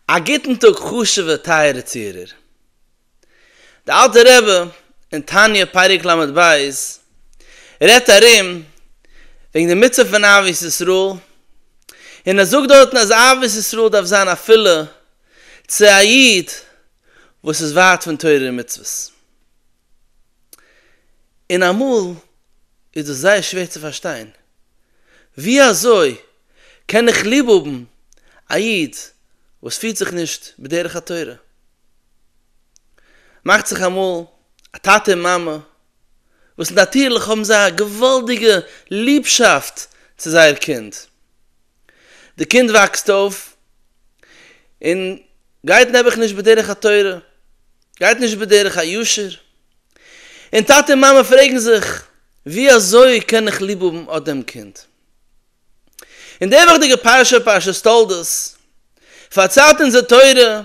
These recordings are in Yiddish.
א גוטן טאג חשובע טייערע צוהערער. די אלטע רבי אין תניא פרק ל ב רעדט ארום וועגן די מצוה פון אהבת ישראל, און ער זאגט דארטן אז אהבת ישראל דארף זיין אפילו צו א איד וואס איז ווייט פון תורה און מצוות. און אמאל איז דאס זייער שווער צו פארשטיין, ווי אזוי קען איך ליב האבן א איד וואס פירט זיך נישט בדרך התורה? מאכט זיך אמאל א טאטע און מאמע וואס נאטירליך האבן זיי א געוואלדיגע ליבשאפט צו זייער קינד, די קינד וואקסט אויף און גייט נעבעך נישט בדרך התורה, גייט נישט בדרך הישר, און טאטע און מאמע פרעגן זיך, ווי אזוי קען איך ליב האבן אט דעם קינד? און די וואכדיגע פרשה, פרשת תולדות, פארציילט אונז די תורה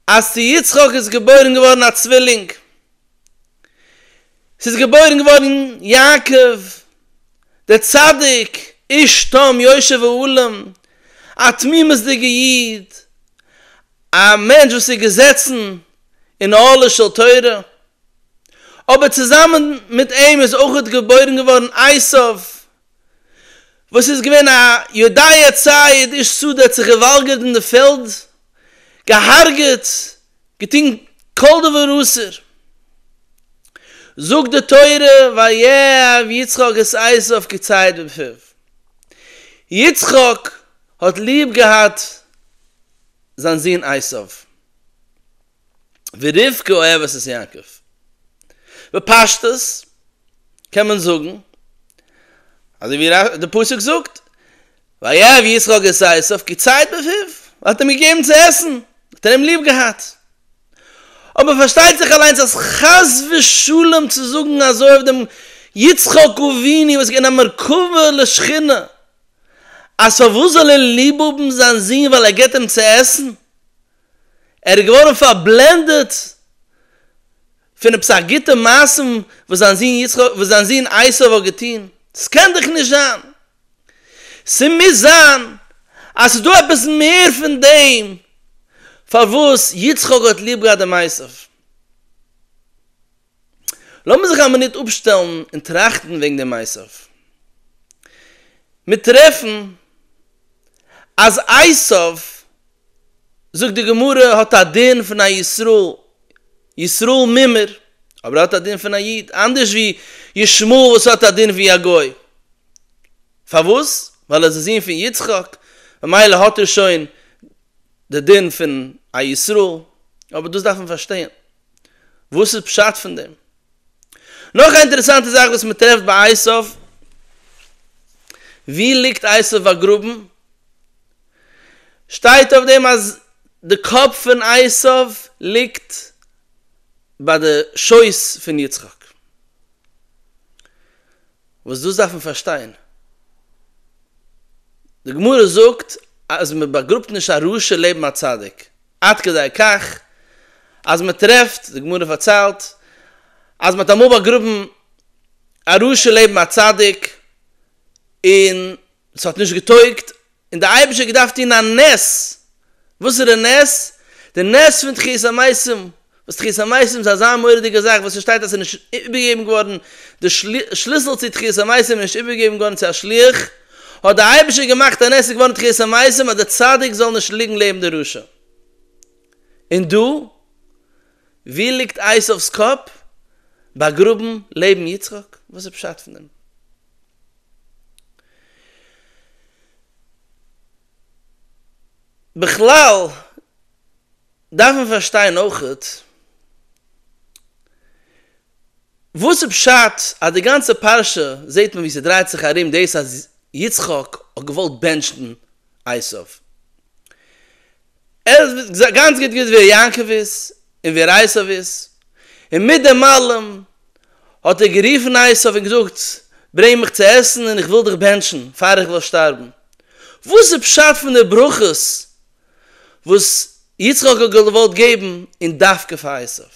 אז צו יצחק איז געבוירן געווארן א צווילינג, ס'איז געבוירן געווארן יעקב דער צדיק, איש תם יושר ואולם, א תמימות'דיגע איד, א מענטש וואס איז געזעצן אין אהלה של תורה, אבער צוזאמען מיט אים איז אויך געבוירן געווארן עשיו וואס איז געווען א יודעי עצי עד איש שדה האט זיך געוואלגערט אין די פעלד, געהארגעט, געטון כל דבר אסור. זאגט די תורה ויאהב יצחק את עשיו כציד בפיו, יצחק האט ליב געהאט זיין זון עשיו. ורבקה אוהבת את יעקב. בפשטות קען מען זאגן אזוי ווי די פסוק זאגט, ויאהב יצחק את עשיו כי ציית בפיו, ער האט אים געגעבן צו עסן, האט ער אים ליב געהאט. אבער פארשטייט זיך אליינס אז חס ושלום צו זאגן אזוי אויף דעם יצחק אבינו וואס איז געווען א מרכבה לשכינה, אז פארוואס זאל ער ליב האבן זיין זון ווייל ער געבט אים צו עסן, ער איז געווארן פארבלענדעט פונעם סך גוטע מעשים וואס זיין זון יצחק וואס זיין זון עשו האט געטון, ס'קען דאך נישט זיין! ס'מוז זיין אז ס'איז דא עפעס מער פון דעם פארוואס יצחק האט ליב געהאט דעם עשו. לאמיר זיך א מינוט אפשטעלן און טראכטן וועגן דעם מעשה. מיר טרעפן אז עשיו, זאגט די גמרא, האט א דין פון א ישראל, ישראל מימר, אבער ער האט א דין פון א איד, אנדערש ווי ישמעאל וואס האט א דין ווי א גוי. פארוואס? ווייל ער איז די זון פון יצחק, ממילא האט ער שוין די דין פון א ישראל, אבער דאס דארף מען פארשטיין. וואס איז פשט פון דעם? נאך א אינטערעסאנטע זאך וואס מען טרעפט ביי עשיו, ווי ליגט עשיו באגראבן? שטייט אויף דעם אז די קאפ פון עשיו ליגט ביי די שויס פון יצחק, וואס דאס דארף מען פארשטיין, די גמרא זאגט אז מען באגראבט נישט א רשע לעבן א צדיק. עד כדי כך אז מען טרעפט, די גמרא פארציילט, אז מען האט אמאל באגראבן א רשע לעבן א צדיק, און ס'האט נישט געטויגט, און דער אייבערשטער האט געדארפט טון א נס, וואסערע נס? די נס פון תחיית המתים, וואס תחיית המתים איז אזא מורא'דיגע זאך וואס ס'שטייט אז ס'איז נישט איבערגעגעבן געווארן, די שליסל צו תחיית המתים איז נישט איבערגעגעבן געווארן צו א שליח, האט דער אייבערשטער געמאכט אז עס איז געווארן תחיית המתים אז דער צדיק זאל נישט ליגן לעבן די רשע. און דא? ווי ליגט עשיו'ס קאפ? באגראבן לעבן יצחק? וואס איז פשט פון דעם? בכלל. דארף מען פארשטיין אויכעט וואס איז פשט אז די גאנצע פרשה זעהט מען ווי ס'דרייט זיך ארום דאס אז יצחק האט געוואלט בענטשן עשיו. ער האט גאנץ גוט געוואוסט ווער יעקב איז און ווער עשיו איז, און מיט דעם אלעם האט ער גערופן עשיו און געזאגט ברענג מיך צו עסן און איך וויל דיך בענטשן פאר איך וועל שטארבן. וואס איז פשט פון די ברכות וואס יצחק האט געוואלט געבן און דווקא פאר עשיו.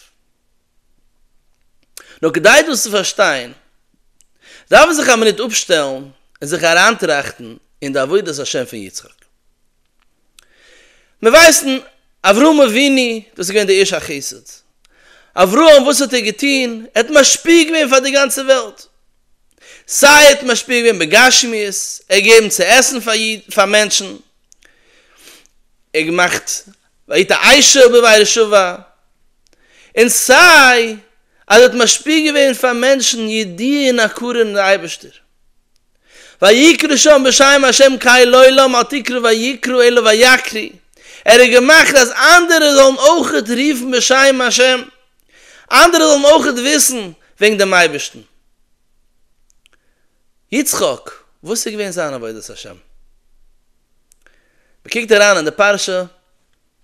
נאר כדי דאס צו פארשטיין דארף מען זיך א מינוט אפשטעלן און זיך אריינטראכטן אין די עבודת השם פון יצחק. מיר ווייסן אברהם אבינו וואס איז געווען דער איש החסד. אברהם וואס האט ער געטון? ער האט משפיע געווען פאר די גאנצע וועלט. סיי ער האט משפיע געווען בגשמיות, ער האט געגעבן צו עסן פאר מענטשן, און געמאכט והיית עיישה ובבית שובע, און סיי אז ער האט משפיע געווען פאר מענטשן ידיעה און הכרה אין די אייבערשטער, ויקרא שם בשם השם קאי לעולם אל תקרא ויקרא אלא ויקרי, ער האט געמאכט אז אנדערע זאלן אויכעט רופן בשם השם, אנדערע זאלן אויכעט וויסן וועגן דעם אייבערשטן. יצחק, וואס איז געווען זיין עבודת השם? מען קוקט אריין אין די פרשה,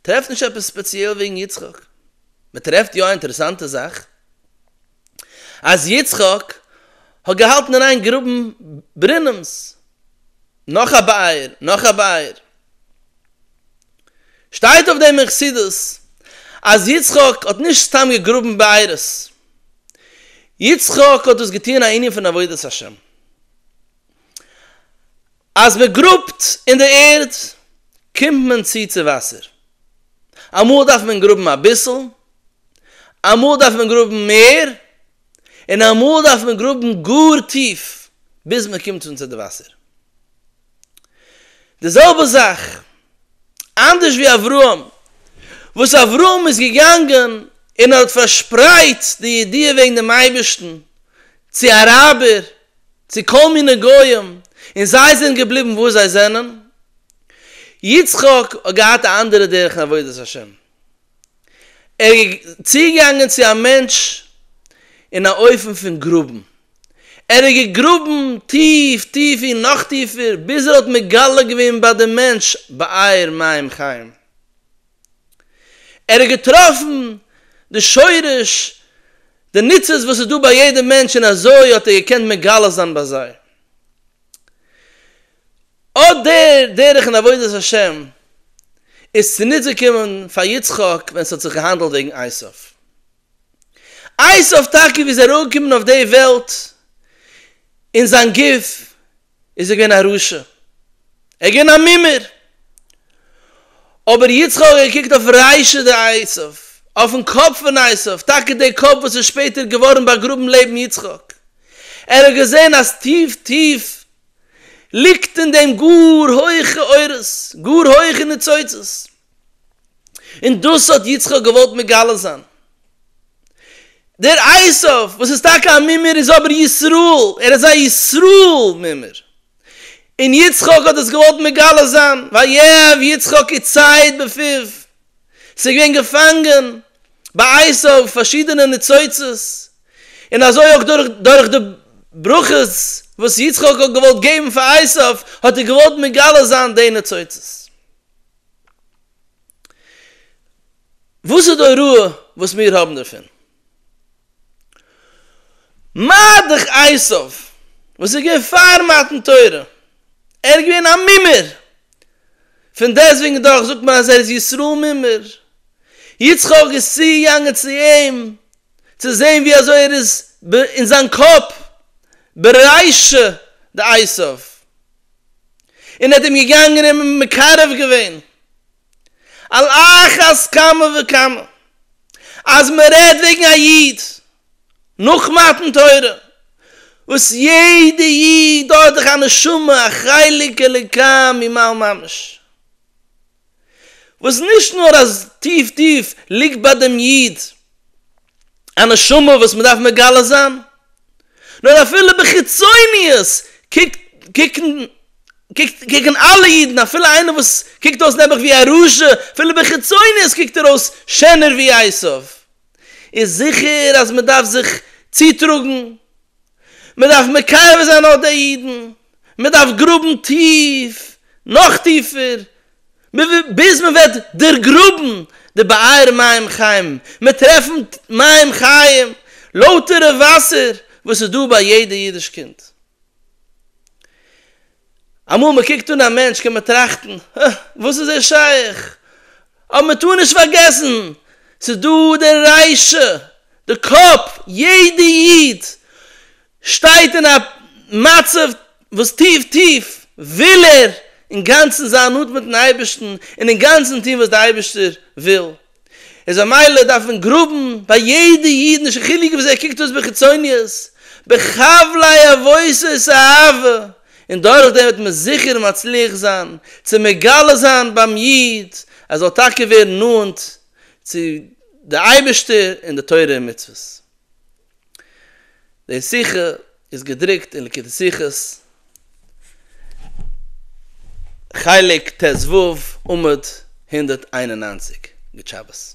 טרעפט נישט עפעס ספעציעל וועגן יצחק, מען טרעפט יא א אינטערעסאנטע זאך, אז יצחק האט געהאלטן אריין גראבן ברינעמס, נאך א באייר, נאך א באייר. שטייט אויף דעם אין חסידות אז יצחק האט נישט סתם געגראבן בארות, יצחק האט דאס געטוען א ענין פון עבודת השם, אז מען גראבט אין די ערד קומט מען צו צו וואסער, אמאל דארף מען גראבן אביסל, אמאל דארף מען גראבן מער, און אמאל דארף מען גראבן גאר טיף ביז מען קומט אן צו די וואסער. די זעלבע זאך, אנדערש ווי אברהם, וואס אברהם איז געגאנגען און האט פארשפרייט די ידיעה וועגן דעם אייבערשטן צו אראבער, צו כל מיני גויים, און זיי זענען געבליבן וואס זיי זענען, יצחק האט געהאט א אנדערע דרך אין עבודת השם. ער איז צוגעגאנגען צו א מענטש אין א אופן פון גראבן, ער האט געגראבן טיף טיף און נאך טיפער ביז ער האט מגלה געווען ביי דעם מענטש באר מים חיים, ער האט געטראפן די שורש, די ניצוץ וואס איז דא ביי יעדע מענטש און אזוי האט ער געקענט מגלה זיין ביי זיי. אט דער דרך אין עבודת השם איז צוניצגעקומען פאר יצחק ווען ס'האט זיך געהאנדלט וועגן עשיו. עשיו טאקע ווי איז ער אנגעקומען אויף די וועלט אין זיין גוף איז ער געווען א רשע, ער איז געווען א מומר, אבער יצחק האט געקוקט אויף ריישא דעשיו, אויפן קאפ פון עשיו, טאקע דער קאפ וואס איז שפעטער געווארן באגראבן לעבן יצחק, ער האט געזען אז טיף טיף, ליגט אין דעם גאר הויכע אורות, גאר הויכע ניצוצות, און דאס האט יצחק געוואלט מגלה זיין. דער עשו וואס איז טאקע א מומר איז אבער ישראל, ער איז א ישראל מומר, און יצחק האט עס געוואלט מגלה זיין, ויאהב יצחק עצי העט בפיו, ס'איז געווען געפאנגען ביי אייס אויף פארשידענע ניצוצות, און אזוי אויך דורך דורך די ברכות וואס יצחק האט געוואלט געבן פאר עשיו, האט ער געוואלט מגלה זיין די ניצוצות. וואס איז די הוראה וואס מיר האבן דערפון? מרדכי אייסוף וואס איז געווען פאר מתן תורה, ער איז געווען א מומר, פון דעסטוועגן דאך זאגט מען אז ער איז ישראל מומר, יצחק איז צוגעגאנגען צו אים צו זען ווי אזוי ער איז אין זיין קאפ ברייש די אייסוף, און ער האט אים געגאנגען און מקרב געווען. על אחת כמה וכמה אז מען רעדט וועגן א איד נאך מתן תורה וואס יעדע איד האט דאך א נשמה א חלק אלוקי ממעל ממש וואס נישט נאר אז טיף טיף ליגט ביי דעם איד א נשמה וואס מען דארף מגלה זיין, נאר אפילו בחיצוניות קוקט קוקן אלע אידן אפילו איינער וואס קוקט אויס נעבעך ווי א רשע, אפילו בחיצוניות קוקט ער אויס שענער ווי עשיו, איז זיכער אז מען דארף זיך צוטראגן, מען דארף מקרב זיין אט די אידן, מען דארף גראבן טיף, נאך טיפער, ביז מען וועט דערגראבן די באר מים חיים, מען טרעפן מים חיים, לויטערע וואסער וואס איז דא ביי יעדע אידיש קינד. אמאל מען קוקט אן א מענטש קען מען טראכטן, הא, וואס איז ער שייך? אבער מען טאר נישט פארגעסן, ס'איז דא דער ריישא, די קאפ, יעדע איד שטייט אין א מצב וואס טיף טיף וויל ער אינגאנצן זיין נאנט מיטן אייבערשטן און אינגאנצן טון וואס דער אייבערשטער וויל, איז א מעלה דארף מען גראבן ביי יעדע איד נישט קיין חילוק וויאזוי ער קוקט אויס בחיצוניות, בחבלי עבותות אהבה, און דורכדעם וועט מען זיכער מצליח זיין צו מגלה זיין ביים איד אז ער זאל טאקע ווערן נאנט צו די אייבערשטער און די תורה און מצוות. די שיחה איז געדרוקט אין ליקוטי שיחות, חלק טז ו, עמוד הונדערט איין און נײַנציק, גוט שבת.